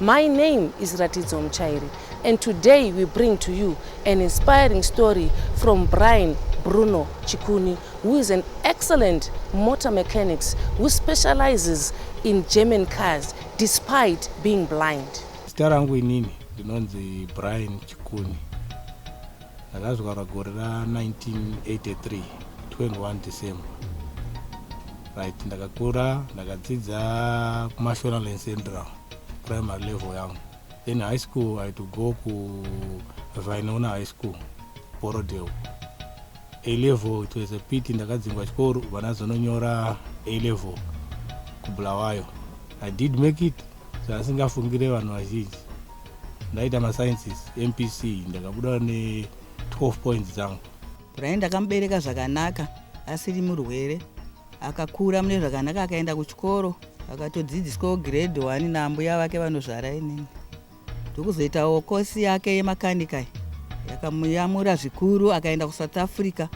My name is Ratidzo Muchairi and today we bring to you an inspiring story from Brian Bruno Chikuni who is an excellent motor mechanic who specializes in German cars despite being blind. Zita rangu inini ndinonzi Brian Chikuni. Ndakazvarwa gore ra 1983 21 December. Right, ndakakura ndakadzidza kuMashonaland Central. primary level yangu then high school i to go kuvainona high school borodel a level it was a pity ndakadzingwa chikoro vana zononyora a level kubulawayo i did make it zvaasingafungire vanhu vazhinji ndaita masciences mpc ndakabuda ne 12 points dzangu brian ndakamubereka zvakanaka asiri murwere akakura mune zvakanaka akaenda kuchikoro akatodzidziswawo grade one naambuya vake vanozvara inini ndokuzoitawo kosi yake yemakanikai yakamuyamura zvikuru akaenda kusouth africa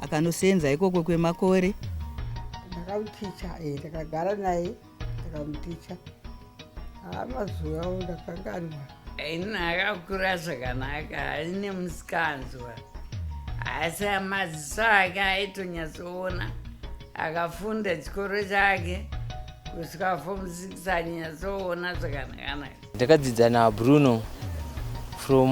akanosenza ikoko kwemakore ndakamukicha eh, ndakagara naye ndikamuticha haa mazuva awo ndakanganwa ini akakura zvakanaka aine musikanzwa asi amaziso ake aitonyatsoona akafunda chikoro chake kusvika fom 6 anyatsoona zvakanakanaka ndakadzidza nabruno from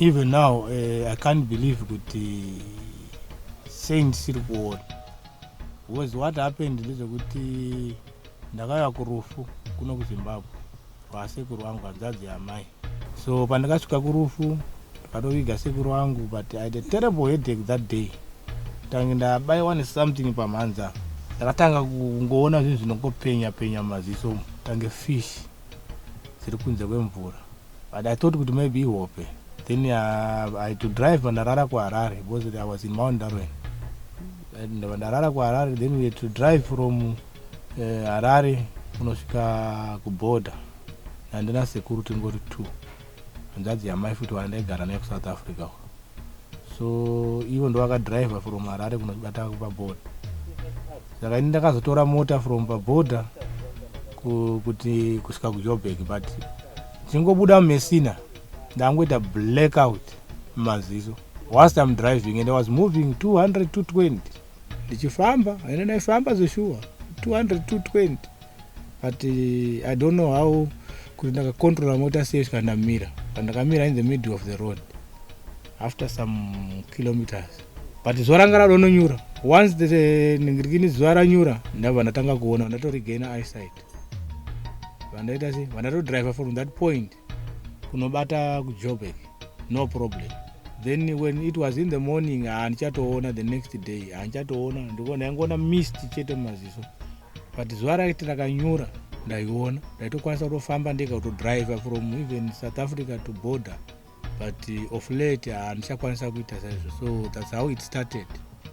Even now uh, I can't believe kuti saint siri kuona was what happened ndezvekuti ndakauya kurufu kuno kuzimbabwe kwasekuru vangu hanzadzi yamai so pandakasvika kurufu ndikatoviga sekuru vangu but i had a terrible headache that day tange ndabaiwa nesomething pamhanza ndakatanga kungoona zvinhu zvinongopenya penya mumaziso tange fish dziri kunze kwemvura but i thought kuti maybe ihope then uh, i to drive pandarara kuharare because i was in mount darwen ndava ndarara kuharare then we to drive from uh, harare kunosvika kuborder nandina sekuru tingori two hanzvadzi yamai futi wandaigara naye kusouth africa uko so ivo ndovakadriver from harare kunobata paborder saka ini ndakazotora mota from paborder kuti kusvika kujobek but chingobuda mumesina ndangoita blackout mumaziso whilst im driving and i was moving 200 220 ndichifamba and ndaifamba zveshuwa 200 220 but eh, i don't know how kuti ndakacontrola mota sei svika ndamira but ndakamira in the middle of the road after some kilometers but zuva ranga radononyura once the eh, ndingirikini zuva ranyura ndabva ndatanga kuona vandatorigaina eyesight vandaita sei vandatodriver from that point kunobata kujobek no problem then when it was in the morning handichatoona ah, the next day handichatoona ah, ndiko ndaingoona mist chete mumaziso but zuva raiti rakanyura ndaiona ndaitokwanisa kutofamba ndega kutodriver from even south africa to border but uh, of late handichakwanisa ah, kuita saizvo so thats how it started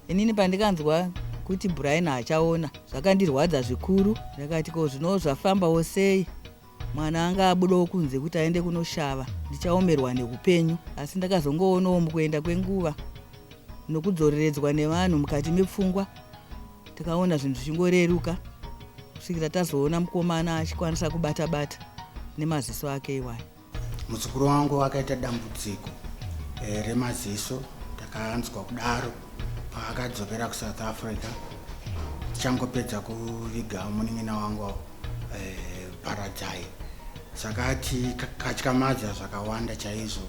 inini pandikanzwa kuti brian achaona zvakandirwadza zvikuru ndakati ko zvino zvafambawo sei Mwana anga abudawo kunze kuti aende kunoshava ndichaomerwa neupenyu asi ndakazongoonawo mukuenda kwenguva nokudzoreredzwa nevanhu mukati mepfungwa takaona zvinhu zvichingoreruka kusvikira tazoona mukomana achikwanisa kubata bata nemaziso ake iwayo muzukuru wangu akaita dambudziko eh, remaziso ndakanzwa kudaro paakadzokera kusouth africa tichangopedza kuviga munin'ina wangu paradzai saka tikatyamadza zvakawanda chaizvo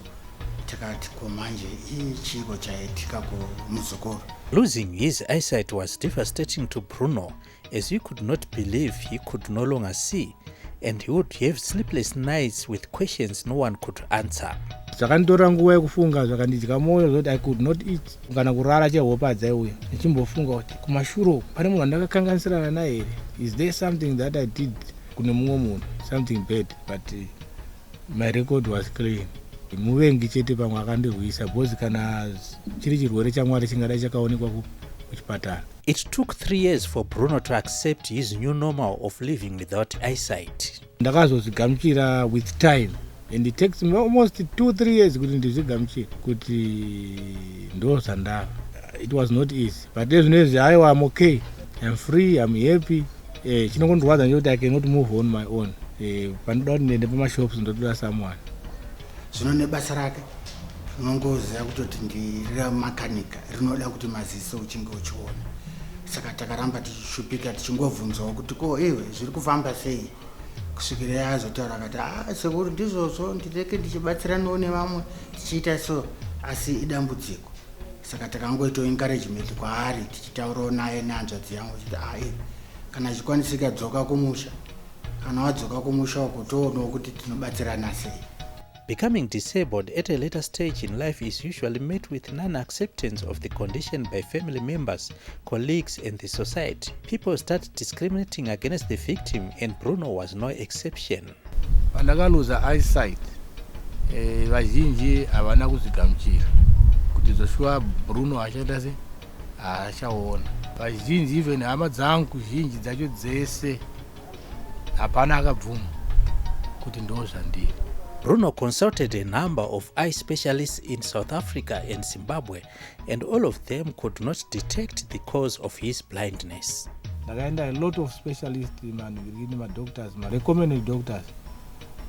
tikati ko manje ichiko chaitika kumuzukuru losing his eyesight was devastating to bruno as he could not believe he could no longer see and he would have sleepless nights with questions no one could answer zvakanditora nguva yekufunga zvakandidya mwoyo zvoti i could not eat kana kurara chehope adzaiuya ndichimbofunga kuti kumashure uku pane munhu wandakakanganisirana naye here is there something that i did kune mumwe munhu something bad but eh, my record was clean muvengi chete pamwe akandirwisa because kana chiri chirwere chamwari chingadai chakaonekwa kuchipatara It took three years for Bruno to accept his new normal of living without eyesight. Ndakazozvigamuchira with time and it takes me almost two three years kuti ndizvigamuchire kuti ndo zvandava it was not easy but ezvino izvi aiwa im okay im free im happy eh, chinongondorwadza nje kuti i cannot move on my own eh, panoda kuti ndiende pamashops ndotoda someone zvino nebasa rake unongoziva kutoti ndiramakanika rinoda kuti maziso uchinge uchiona saka takaramba tichishupika tichingobvunzawo kuti ko iwe zviri kufamba sei kusvikira yazotaura akati a ah, sekuru ndizvozvo ndireke ndichibatsiranawo nevamwe tichiita so asi idambudziko saka takangoitawo encouragement kwaari tichitaurawo naye nehanzvadzi yangu chiti ai ah, kana achikwanisika dzoka kumusha kana wadzoka kumusha uko toonawo kuti tinobatsirana sei Becoming disabled at a later stage in life is usually met with non acceptance of the condition by family members, colleagues, and the society. People start discriminating against the victim, and Bruno was no exception. pandakaluza eyesight eh, vazhinji havana kuzvigamuchira kuti zvoshuwa bruno achaita sei achaona vazhinji even hama dzangu zhinji dzacho dzese hapana akabvuma kuti ndo zvandiri Bruno consulted a number of eye specialists in South Africa and Zimbabwe and all of them could not detect the cause of his blindness. Ndakaenda a lot of specialists, madoctors, recommended doctors,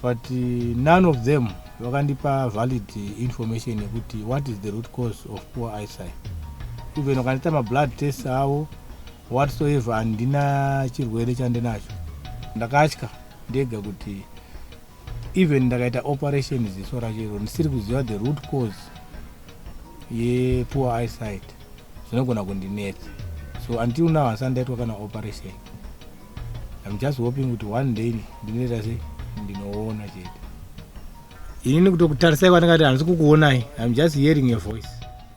but uh, none of them vakandipa valid information yekuti what is the root cause of poor eyesight even vakandiita mablood test avo whatsoever handina chirwere chandinacho ndakatya ndega kuti even ndakaita operation ziso rachero ndisiri kuziva the root cause yepoor eyesight zvinogona kundinetsa so until now handisati ndaitwa kana operation im just hoping kuti one day ndinoita se ndinoona chete inini kutokutarisai kwandingati handisi kukuonai im just hearing your voice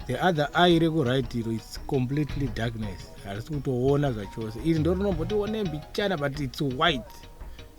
the other eye rekuright iro its completely darkness handisi kutoona zvachose iri ndorinomboti one mbichana but its white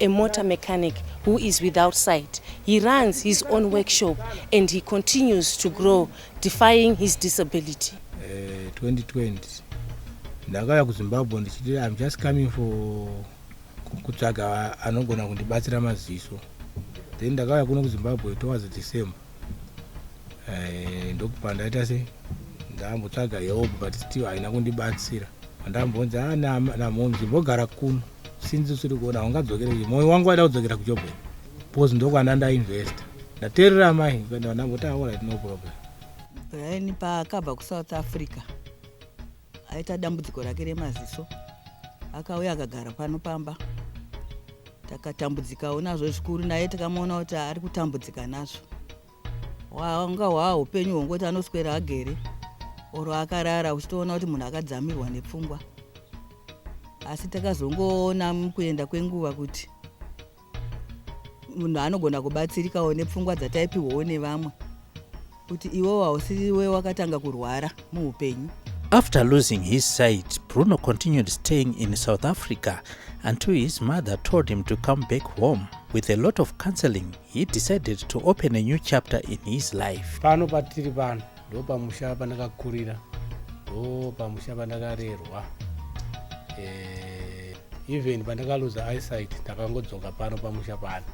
a motor mechanic who is without sight. He runs his own workshop and he continues to grow defying his disability. Uh, 2020 ndakauya kuzimbabwe ndichiti im just coming for kutsvaga anogona kundibatsira maziso then ndakauya kuno kuzimbabwe towards december eh, ndokupa ndaita se ndambotsvaga help but still haina kundibatsira andambonzi ah, namhomzi mbogara kuno since usiri kuona haungadzokere kuye mwoyo wangu waida kudzokera kujobe because ndokwana ndainvesta ndaterera mai kuenda ndangoti aorit no problem then paakabva kusouth africa aita dambudziko rake remaziso akauya akagara pano pamba takatambudzikawo nazvo zvikuru naye takamuona kuti ari kutambudzika nazvo hwanga hwaa upenyu hwongoti anoswera agere or akarara uchitoona kuti munhu akadzamirwa nepfungwa asi takazongoona mukuenda kwenguva kuti munhu anogona kubatsirikawo nepfungwa dzataipiwawo nevamwe kuti iwewo hausiriwe wakatanga kurwara muupenyu After losing his sight, Bruno continued staying in South Africa until his mother told him to come back home. With a lot of counseling, He decided to open a new chapter in his life. Pano patiri pano ndo pamusha pandakakurira ndo pamusha pandakarerwa eh, even pandakaluza eyesight ndakangodzoka pano pamusha pano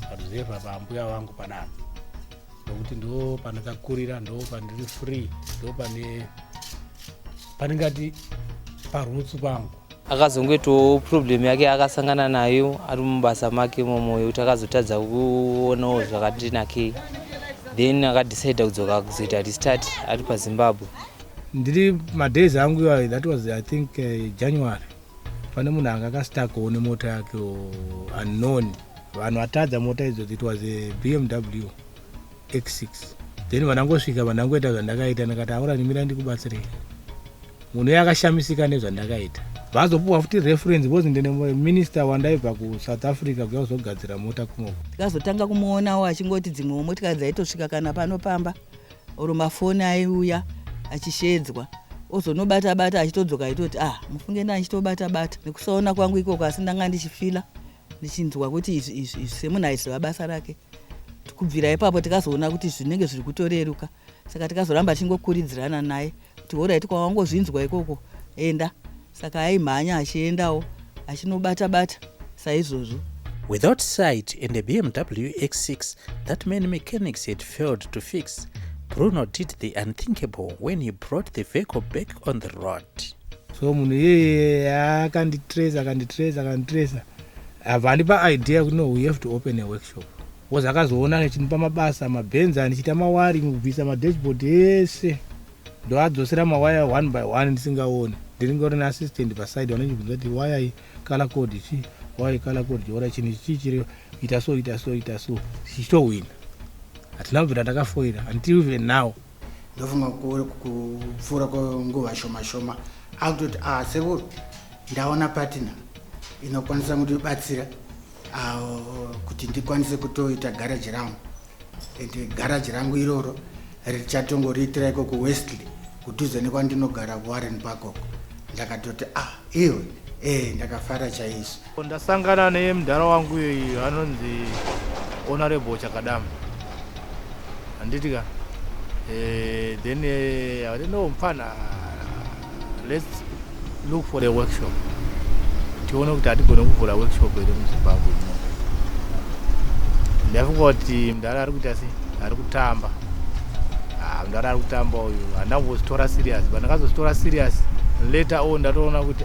paruzevha pambuya vangu panapa nokuti ndo pandakakurira ndo pandiri free ndo pane pandingati parutsu pangu akazongoitawo problem yake akasangana nayo ari mubasa make momo yekuti akazotadza kuonawo zvakati nakei then akadecide kudzoka kuzoita restart ari pazimbabwe ndiri madays angu iwayo that was i think uh, january pane munhu anga akastakowo nemota yake unknown vanhu vatadza mota idzo it was a bmw x6 then vandangosvika vandangoita zvandakaita ndakati aura ndimira ndikubatsirei munhu uye akashamisika nezvandakaita vazopuwa futi reference because ndine minister wandaibva kusouth africa kuya kuzogadzira mota kunoko tikazotanga kumuonawo achingoti dzimwewo motikari dzaitosvika kana pano pamba or mafoni aiuya achishedzwa ozonobata bata achitodzoka aitoti ah mufunge nda ndichitobata bata nekusaona kwangu ikoko asi ndanga ndichifila ndichinzwa kuti izvi izvi izvi semunhu aiziva basa rake kubvira ipapo tikazoona kuti zvinenge zviri kutoreruka saka tikazoramba tichingokuridzirana naye kuti horaiti kwawangozvinzwa ikoko enda saka aimhanya achiendawo achinobata bata saizvozvo without sight and a bmw x6 that many mechanics had failed to fix bruno did the unthinkable when he brought the vehicle back on the road so munhu iyeye akanditrace akanditrace akanditrace abva andipa idea kuti no we have to open a workshop was akazoona achindipa mabasa mabhenzi andichiita mawari kubvisa madashboard ese ndoadzosera mawaya one by one ndisingaoni ndinenge uri neassistant paside vanondibvunza kuti waya i color code chii waya i color code chiora chinhu chii chiri ita so ita so ita so tichitohwina hatina kubvira takafoira until even now ndofunga kupfuura kwenguva shoma shoma akutoti a ah, sekuru ndaona patina inokwanisa kundibatsira ah, kuti ndikwanise kutoita garaji rangu and garaji rangu iroro richatongoriitira iko kuwestley kudhuze nekwandinogara kuwarren parkok ndakatoti a ah, iwe ee eh, ndakafara chaizvo Ndasangana nemdhara wangu uyu anonzi Honorable Chakadama. Handiti ka? Eh, then eh, I don't know mfana let's look for a workshop. Tione kuti hatigone kuvhura workshop here muZimbabwe muno. Ndafunga kuti mdhara ari kuita sei? Ari kutamba. Ah, mdhara ari kutamba uyu. Handambozitora serious, but ndakazozitora serious later on ndatoona kuti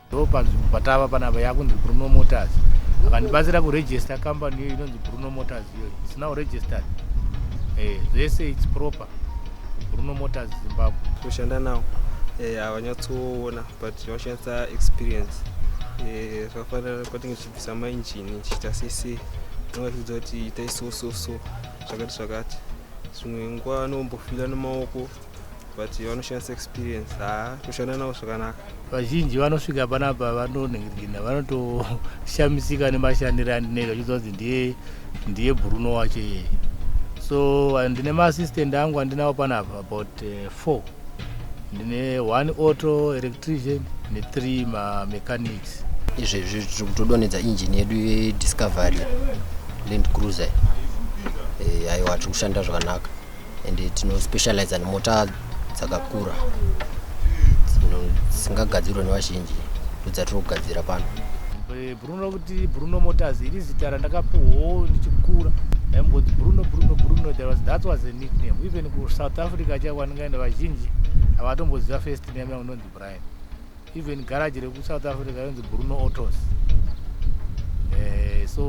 ndopanzvimbo patava panapa yakunzi bruno motors akandibatsira kuregister company iyoyo inonzi bruno motors iyoyo its now registered eh, zvese its proper bruno motors zimbabwe kushanda nawo eh, havanyatsoona but vanoshandisa experience eh, zvakafanira kwatinge tichibvisa mainjini tichiita sese tinongachiudza kuti itai so so so zvakati zvakati zvimwe nguva anombofila nemaoko but vanoshandisa experience ha toshanda navo zvakanaka vazhinji vanosvika panapa vanonhingirina vanotoshamisika nemashandiro andinoita vachidza kunzi ndiye ndiye bruno wacho iyeye so ndine maassistant angu andinawo panapa about eh, four ndine one auto electrician nethree mamechanics izvezvi tiri kutodonhedza injini yedu yediscovery land cruiser eh, aiwa tiri kushanda zvakanaka and tinospecializa nemota dzakakura dzisingagadzirwe nevazhinji ndodzatiri kugadzira pano eh, bruno kuti bruno motors iri zita randakapuhwo ndichikura aimboti bruno bruno bruno there was that was a nickname even kusouth africa chaiko andingaenda vazhinji havatomboziva first name yaunonzi brian even garage rekusouth africa yonzi bruno autos eh, so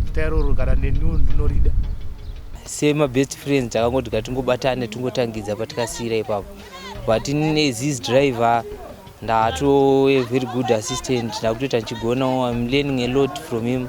zita iroro kana neniwo ndinorida semabest friends takangoti katingobatane tingotangidza patikasiyira ipapo but nezis driver ndatoe very good assistant ndakutoita ndichigonawo im learning a lot from him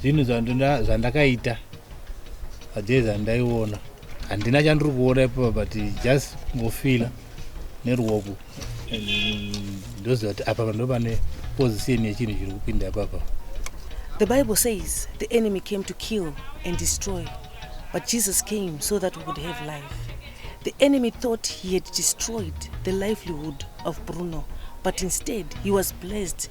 zvinhu zvandakaita ajee zvandaiona handina chandiri kuona ipopa but just kungofila neruoko ndoziva kuti apa pando pane position yechinhu chiri kupinda ipapa the bible says the enemy came to kill and destroy but jesus came so that we could have life the enemy thought he had destroyed the livelihood of bruno but instead he was blessed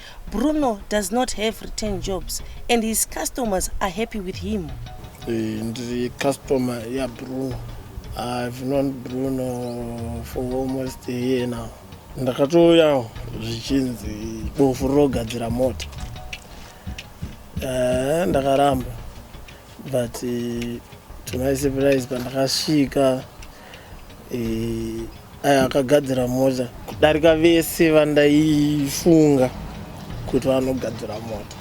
Bruno does not have return jobs and his customers are happy with him. Eh, ndiri customer yaBruno. I've known Bruno for almost a year now. Ndakatouyawo zvichinzi bofu rinogadzira mota. Eh, ndakaramba but eh, to my surprise pandakasvika Eh, aya akagadzira mota kudarika vese vandaifunga kuti vanogadzira mota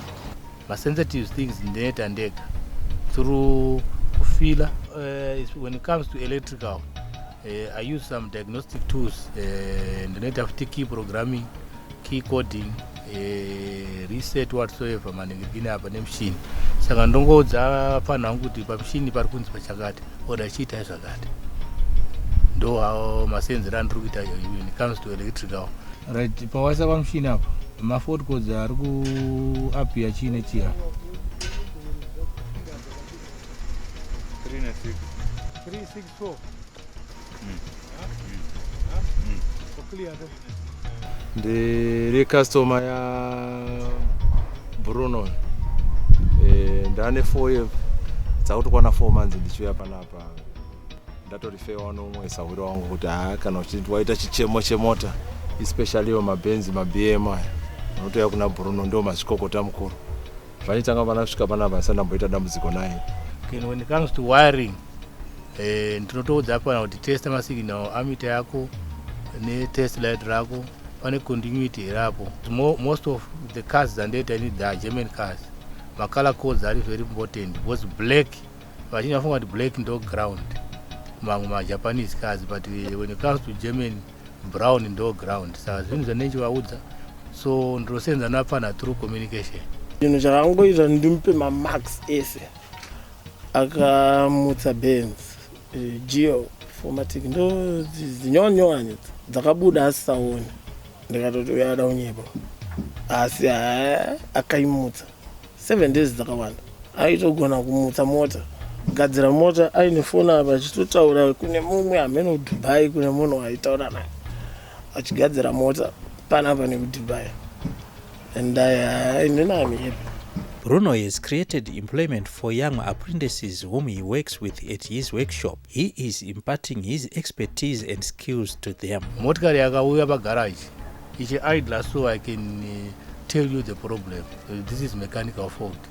masensitive things ndeta ndega through kufila uh, eh, when it comes to electrical uh, i use some diagnostic tools uh, ndinoita futi key programming key coding eh, reset whatsoever maningirikini apa nemushini saka ndongoudza vapfanhu vangu kuti pamushini pari kunzi pachakati oda chiitai zvakati ndo awo masenzero andiri kuita when it comes to electrical right pawasa pamushini apa mafotcods ari kuapia chii nechii apa So. Mm. Huh? Huh? Mm. So clear though. ndiri customer yabrunon e, eh, ndane four dzakutokwana four months ndichiuya panapa ndatorifewa nomwe sahuri wangu kuti haa kana uchiti waita chichemo chemota especially yo mabenzi mabm aya unotouya kuna bruno ndo mazvikokota mukuru Vaitanga vana svika pana vasa ndamboita dambudziko naye. Okay, when it comes to wiring eh ndinotoudza pana kuti test ma signal amita yako ne test light rako pane continuity rapo. Most of the cars that they need the German cars. Ma color codes are very important because black vachinyafunga kuti black ndo ground. Mamwe ma Japanese cars but when it comes to German brown ndo ground saka zvinhu zvanenchivaudza so ndinosenza napfana through communication chinhu chakangoita ndimupe mamax ese akamutsa bens eh, geo formatic ndo dzinyowanyowanya dzakabuda asisaone ndikatoti uyada unyepa asi akaimutsa 7 days dzakawanda aitogona kumutsa mota gadzira mota aine foni apa achitotaura kune mumwe hameno kudubai kune munhu aitaura naye achigadzira mota panapa nekudubai and inenamie Bruno has created employment for young apprentices whom he works with at his workshop. He is imparting his expertise and skills to them. Motikari yakauya pagarage ichi idler so I can uh, tell you the problem. Uh, this is mechanical fault.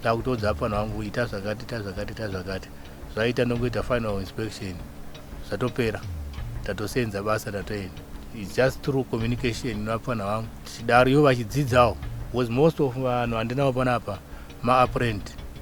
Ndakutodza apana wangu ita zvakati ita zvakati ita zvakati. Zvaita ndongoita final inspection. Zvatopera. Tatosenza basa tatoenda. It's just through communication napana wangu. Chidariyo vachidzidzawo. Was most of vanhu vandinawo panapa ma apprentice.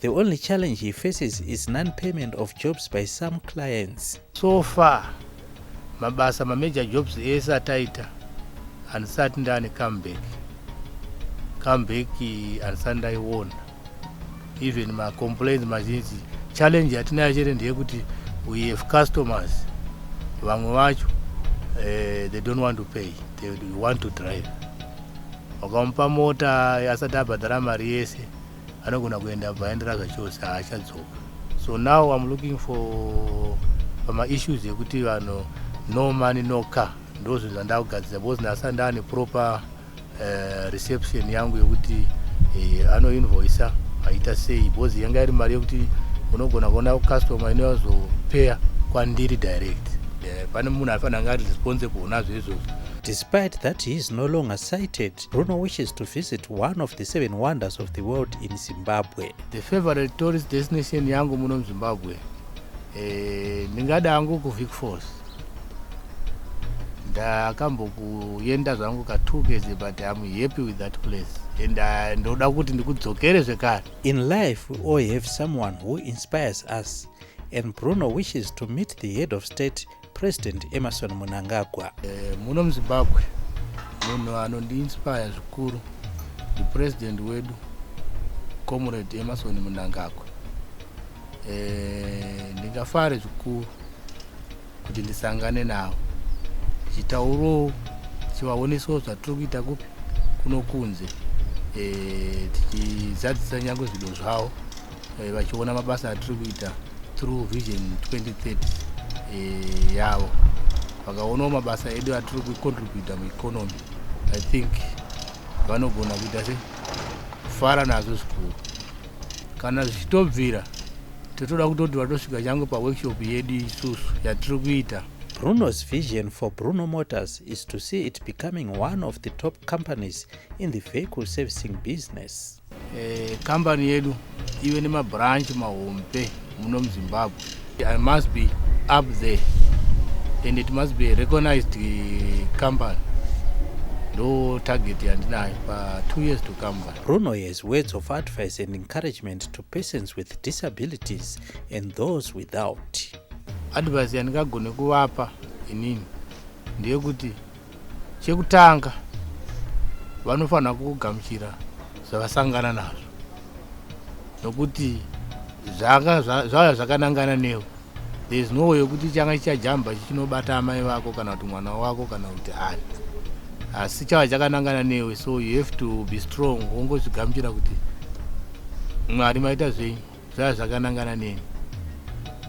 The only challenge he faces is non-payment of jobs by some clients. So far, mabasa major jobs ese ataita handisati ndane comeback. Comeback handisati ndaiona. Even my complaints mazhinji. Challenge yatinayo chete ndeyekuti we have customers vamwe vacho uh, they don't want to pay they want to drive wakamupa mota asati abhadhara mari yese anogona kuenda abva aendera zvachose haachadzoka so now im looking for pamaissues ekuti vanhu no money no car ndozvinhu zvandakugadzira because nhasi andaane proper uh, reception yangu yekuti uh, anoinvoisa aita sei because yanga iri mari yekuti unogona kuona customer inoyazopeya kwandiri direct eh, pane munhu aifanira anga ari responsible nazvo izvozvo despite that he is no longer cited Bruno wishes to visit one of the seven wonders of the world in Zimbabwe. The favorite tourist destination yangu muno muZimbabwe eh, ndingada eh, hangu kuVic Falls. Ndakambokuenda zvangu ka two days but I'm happy with that place and uh, ndoda kuti ndikudzokere zvekare. In life we all have someone who inspires us and Bruno wishes to meet the head of state president emerson munangagwa e, muno muzimbabwe munhu anondiinspire zvikuru ndipresident wedu comrade emerson munangagwa e, eh, ndingafare zvikuru kuti ndisangane navo tichitaurowo tichivaonesawo zvatiri kuita kupi kunokunze e, tichizadzisa nyange zvido zvavo eh, vachiona mabasa atiri kuita through vision 2030 eh, yavo vakaonawo mabasa edu atiri kucontributa mueconomy i think vanogona kuita se kufara nazvo zvikuru kana zvichitobvira totoda kutoti vatosvika change paworkshop yedu isusu yatiri kuita Bruno's vision for Bruno Motors is to see it becoming one of the top companies in the vehicle servicing business. Eh, company yedu ive nemabranch mahombe muno muzimbabwe i must be up there and it must be a recognized eh, company ndo target yandinayo pa two years to come by brunoyes words of advice and encouragement to persons with disabilities and those without advice yandingagone kuvapa inini ndeyekuti chekutanga vanofanira kugamuchira zvavasangana nazvo nokuti zvauya zvakanangana nevo there is no way yokuti changa chichajamba chichinobata amai vako kana kuti mwana wako kana kuti ani asi chava chakanangana newe so you have to be strong wongozvigamuchira kuti mwari maita zvenyu zvaya zvakanangana neni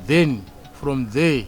then from there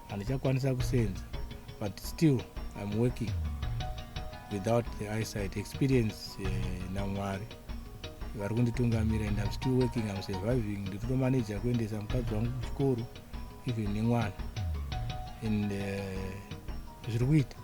handichakwanisa kusenza but still im working without the eyesight experience uh, namwari vari kunditungamira and im still working im surviving ndikutomaneja kuendesa mukadzi wangu kuchikoro even nemwana and uh, zviri kuita